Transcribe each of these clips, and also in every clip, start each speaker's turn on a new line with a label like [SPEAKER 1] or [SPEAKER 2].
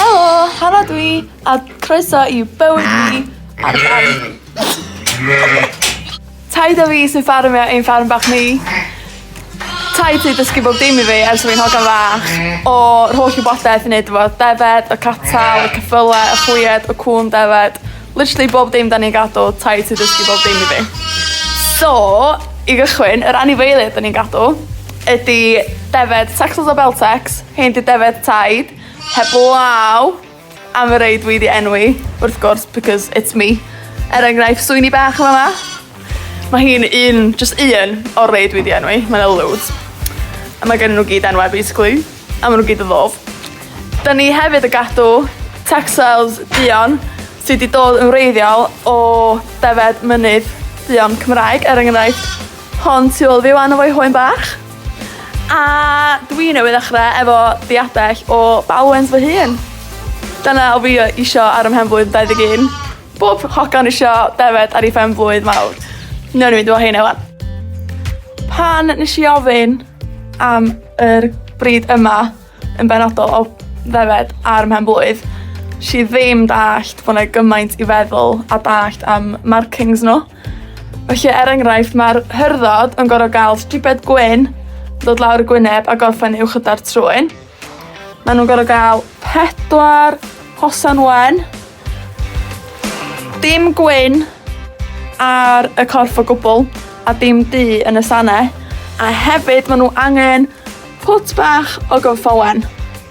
[SPEAKER 1] Helo, Hannah dwi, a croeso i bywyd fi ar Taid o fi sy'n ffarmio ein ffarm bach ni. Taid sy'n dysgu bob dim i fi ers fi'n hogan fach. O'r holl wybodaeth i wneud efo defed, y catal, y cyffyle, y chwied, y cŵn defed. Literally bob dim da ni'n gadw, taid sy'n dysgu bob dim i fi. So, i gychwyn, yr anifeiliaid da ni'n gadw ydy defed Texels a Beltex, Hen dŷ defaid taid heblaw am y rei dwi 'di enwi wrth gwrs because it's me. Er enghraifft swini bach yn fama. Mae hi'n un, just un o'r rei dwi 'di enwi, mae 'na loads. A mae gen nhw gyd enwau basically, a maen nhw gyd yn ddof. Da ni hefyd y gadw textiles duon sydd wedi dod yn wreiddiol o defed mynydd duon Cymraeg, er enghraifft hon tu ôl fi wan efo'i hoen bach. A dwi newydd ddechrau efo diadell o Bowens fy hun. Dyna o fi isio ar ymhen blwydd 21. Bob hogan isio defed ar ei phen blwydd mawr. Newn ni fynd efo heina wan. Pan nes i ofyn am yr bryd yma yn benodol o ddefed ar mhen blwydd, si ddim dallt bod 'na gymaint i feddwl a dallt am markings nhw. Felly, er enghraifft, ma'r hyrddodd yn gor'o' ga'l stribed gwyn dod lawr y gwyneb a gorffen uwch yda'r trwyn. Ma' nw'n gor'o' ga'l pedwar hosan wen. Dim gwyn ar y corff o gwbwl a dim du yn y sane. A hefyd ma' nw angen pwt bach o gynffon wen.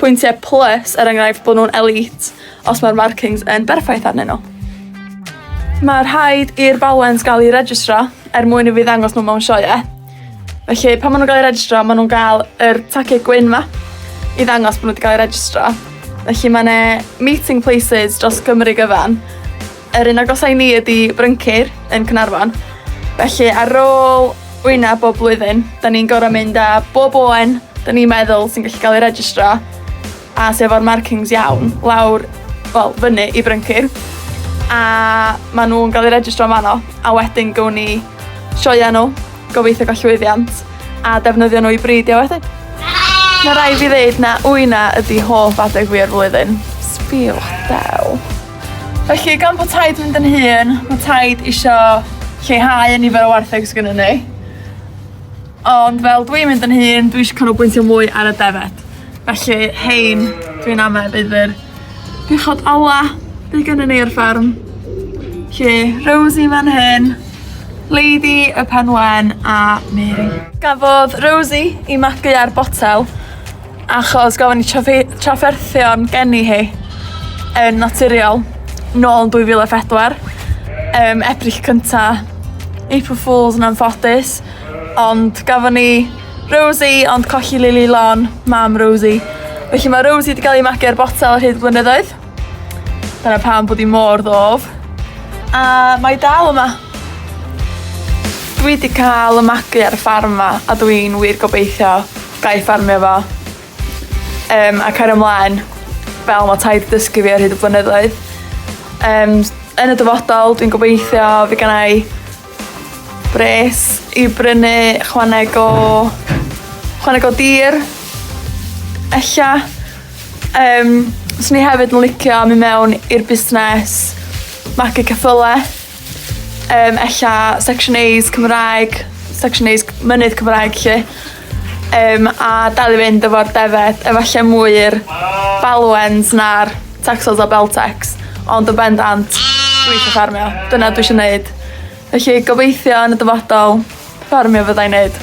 [SPEAKER 1] pwyntiau plus er enghraifft bod nhw'n elite os mae'r markings yn berffaith arnyn nhw. Mae rhaid i'r balans gael ei registro er mwyn i fi ddangos nhw mewn sioe. Felly pan maen nhw'n cael ei registro, maen nhw'n cael yr taciau gwyn ma i ddangos bod nhw wedi cael ei registro. Felly mae yna meeting places dros Cymru gyfan Yr un agosaf i ni ydi Bryncir yn Caernarfon. Felly ar ôl wyna bob blwyddyn, da ni'n gorau mynd â bob oen da ni'n meddwl sy'n gallu cael ei registro a sef o'r markings iawn lawr, wel, fyny i Bryncir. A maen nhw'n cael ei registro am fanno a wedyn gown ni sioia nhw, gobeithio gael llwyddiant a defnyddio nhw i bridio wedyn. Mae rai fi ddeud na wyna ydi hoff adeg fi o'r flwyddyn. Sbiwch del. Felly, gan bod taid mynd yn hun, mae taid eisiau lleihau y nifer o wartheg sydd gennym ni. Ond fel dwi'n mynd yn hun, dwi eisiau canolbwyntio mwy ar y defed. Felly, hein, dwi'n amau bydd yr bechod ola bydd gennym ni ar ffarm. Lle Rosie fan hyn, Lady y Penwen a Mary. Gafodd Rosie i magu ar botel Achos gofyn ni trafferthion geni hi yn naturiol nôl yn 2004. Um, Ebrill cynta, April Fools yn anffodus. Ond gafon ni Rosie ond colli Lily Lon, mam Rosie. Felly mae Rosie wedi cael ei magu ar botel ar hyd blynyddoedd. Dyna pam bod hi mor ddof. A mae dal yma. Dwi wedi cael y magu ar y ffarm yma a dwi'n wir gobeithio Ga'i ffarmio fo. Yym a cario mlaen fel mae taid dysgu fi ar hyd y blynyddoedd. Yym yn y dyfodol dwi'n gobeithio fy gennai bres i brynu chwaneg o chwaneg o dir ella. Yym swn i hefyd yn licio myn' mewn i'r busnes magu ceffyle. Yym ella section A's Cymraeg, section A's c- mynydd Cymraeg 'lly. Yym a dal i fynd efo'r defaid efalle mwy i'r Balwens na'r Texels a Beltecs ond yn bendant dwi isio ffarmio. Dyna dwi isio neud. Felly gobeithio yn y dyfodol ffarmio fyddai'n neud.